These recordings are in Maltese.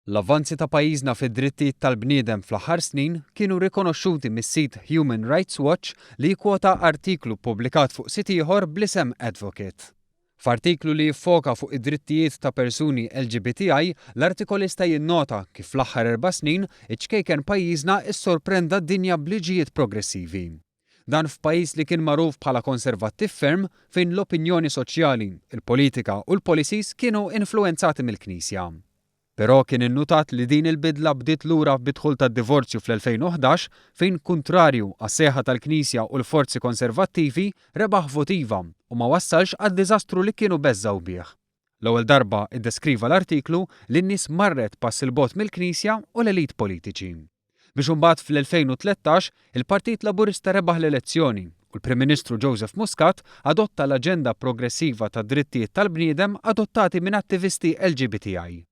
L-avvanzi ta' pajjiżna fid-drittijiet tal-bniedem fl-aħħar snin kienu rikonoxxuti mis-sit Human Rights Watch li jikkwota artiklu ppubblikat fuq sit ieħor bl-isem Advocate. F'artiklu li jiffoka fuq id-drittijiet ta' persuni LGBTI, l-artikolista jinnota kif fl-aħħar erba' snin iċ-ċkejken pajjiżna ssorprenda d-dinja b'liġijiet progressivi. Dan f'pajjiż li kien magħruf bħala konservattiv ferm fejn l-opinjoni soċjali, il-politika u l-policies kienu influwenzati mill-Knisja. Però kien innutat li din il-bidla bdiet lura bid-dħul tad-divorzju fl-2011 fejn kuntrarju għas-sejħa tal-Knisja u l-forzi konservattivi rebaħ vot iva u ma wassalx għad-diżastru li kienu beżgħu bih. L-ewwel darba iddeskriva l-artiklu li n-nies marret pass 'il bogħod mill-Knisja u l-elite politiċi. Biex imbagħad fl-2013 il-Partit Laburista rebaħ l-elezzjoni u l-Prim Ministru Joseph Muscat adotta l-aġenda progressiva tad-drittijiet tal-bniedem adottati minn attivisti LGBTI.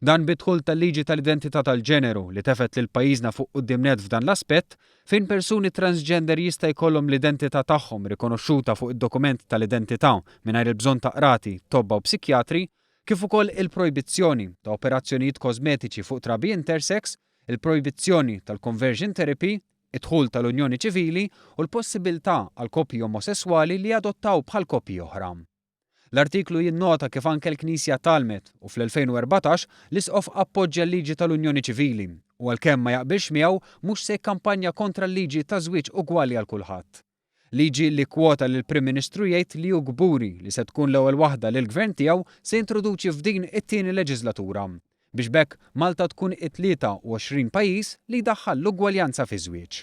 Dan bid-dħul tal-liġi tal-identità tal-ġeneru li tefgħet lil pajjiżna fuq quddiem nett f'dan l-aspett, fejn persuni transgender jista' jkollhom l-identità tagħhom rikonoxxuta fuq id-dokument tal-identità mingħajr il-bżonn ta' qrati, tobba u psikjatri, kif ukoll il-projbizzjoni ta' operazzjonijiet kożmetiċi fuq trabi intersex, il-projbizzjoni tal-conversion therapy, id-dħul tal-unjoni ċivili u l-possibiltà għal koppji omosesswali li jadottaw bħal koppji oħra. L-artiklu jinnota kif anke l-Knisja tgħallmet, u fl-2014, l-Isqof appoġġja l-liġi tal-unjoni ċivili u għalkemm ma jaqbilx miegħu, mhux se jikkampanja kontra l-liġi taż-żwieġ ugwali għal kulħadd. Liġi li kkwota lill-Prim Ministru jgħid li hu kburi li se tkun l-ewwel waħda li l-Gvern tiegħu se jintroduċi f'din it-tieni leġiżlatura biex b'hekk Malta tkun it-23 pajjiż li jdaħħal l-ugwaljanza fiż-żwieġ.